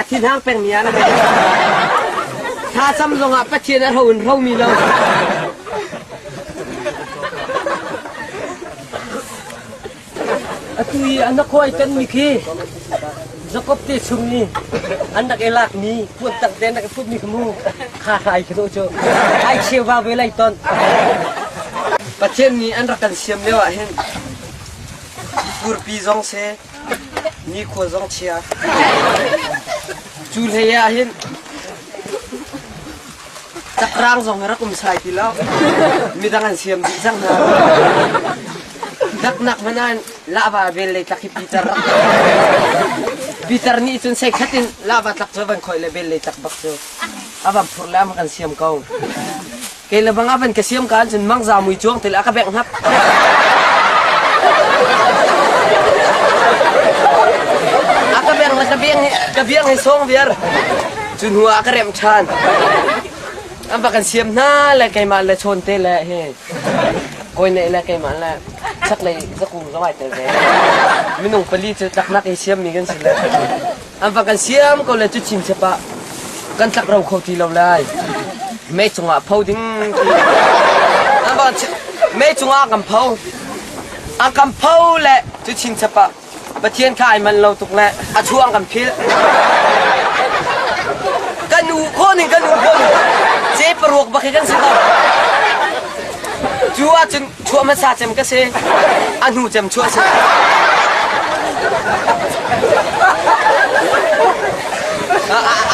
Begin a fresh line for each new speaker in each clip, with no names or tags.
A thinhang pengmi ah na hei thlacam zongah Pathian a ro in romi lo. Atu i an khuai tanmi khi Jakob te chung i an rak i lak mi puan tak te an rak i put mi kha mu kha hrai khi cu ai cheu va ve lai ton Pathian nih an rak kan siam lio ah hin furpi zong se Nikhua zong chia. Cu hlei ah hin cakrang zong hi rak um sai ti lo. Midang an siam dih cang hna. Daknak hmanh ah lava vel lei tlak hi pitar rak pitar nih cun sei khat in lava tlak cu a van khawih le vel lei tlak bak cu a van phur le a van kan siam ko. Kei le bang a van ka siam ka ahcun mangza mui cuang til a ka bengh hnap. a ka bengh le ka biang hi ka biang hi sawng viar. Cu hnu ah a ka remh ṭhan. An bak kan siam hna le keimah le chawn te le hi kawi neih le keimah le chaklei zakung zawai tel ve. Minung pali cu taknak i siammi kan si le. An va kan siam ko le cuchin chep ah kan tlak ro kho ti lo lai. Mei cungah pho ding an va mei cungah kan pho an kan pho le cuchin chep ah Pathian kha ai man lo tuk le a chuang kan phil kan nu khawh ning kan nu khawh ning ce paruak bak hi kan si ko cu ahcun chuah hmasa cem ka si a hnu cem chuah si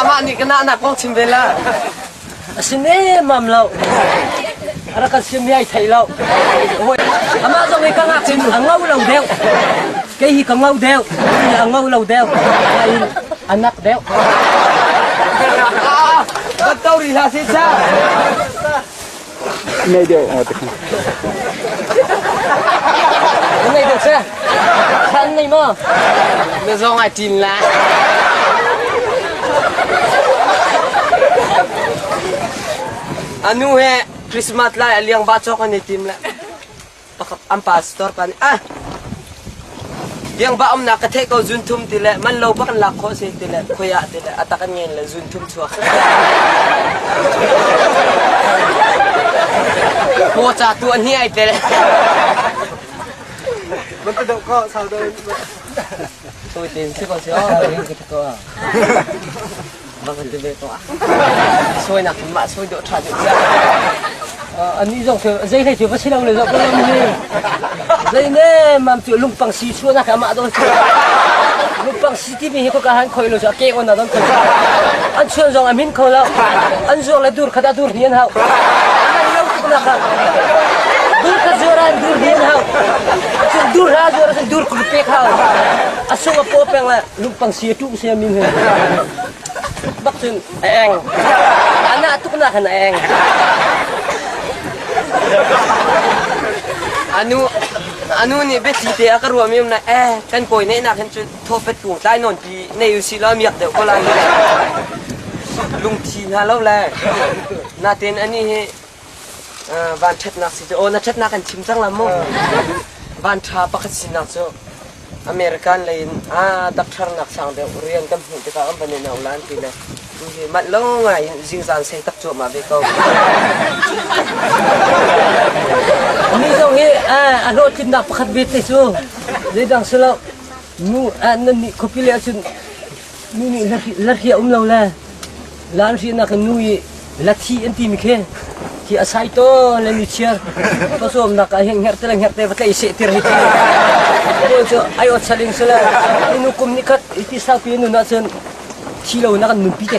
amah nih ka nahnak kong chim ve la a si nemam lo a rak kan siam ai thei lo amah zong i ka ngak cun a ngau lo deuh kei hi ka ngau deuh a ngau lo deuh a nak deuh Batau rih hlah si sa. Ngai deuh oh te khan. Ngai deuh seh. Kan nei mo. Na zong ai tin la. Anu he Christmas lai aliang ba chok an i tim le. an pa store pa nih ah tiangba umnak ka theih ko zunthum ti le man lo bak an lak khawh si ti le khoi ah ti le a tak an ngen le zunthum chuak mo cha tu an hi ai te man ta dok ko sau do tu tin si ko si o va kan ti ve ko ah soinak in mah soi dawh ṭha deuh tiah anih zong cu zei hlei cu va si lo le zong lam hi zei ne mam cu lungpang si chuah na ka mah dawt lungpang si ti mi hi ko ka han khoi lo chu a ke on na don khoi an chuan zong a min kho lo an zuar le dur khat a dur ni an hau an lo tuk na ka dur khat zuaran dur ni an hau dur ha zuar dur kul pek hau a sung a po peng le Lungpang si a ṭuh sia min he. Bak cun a eng. Anah tuknak khan a eng. Anu anu nih biathi te a ka ruam im na eh kan kawi neih nak hin cun thawpet kung tlai non pi nei u si lo miak deuh ko lai lungthi hna lo le naten ani hi van ṭhatnak si cu aw na ṭhatnak kan chim cang la mu van ṭha pakhat sinak cu American lei in a dakṭharnak sang deuh rian kan hmuh tikah an van in aulan ti le tuhi manh lo ngai in zingzan sei tak cuahmah ve ko mi zong i a hlawhtlinnak pakhat ve te cu zeidang si lo nu nan nih khuapi le ahcun Nu nih la hri a um lo le la an hrihnak in nu i lathi an timi khi hi a sai to le nu chia ka sawmnak ah hin ngerte le ngerte va tlei seh tir hi paul cu ai ot saling sale nu kum ni khat i ti sau pi nun ah cun thi lo na kan nun pi te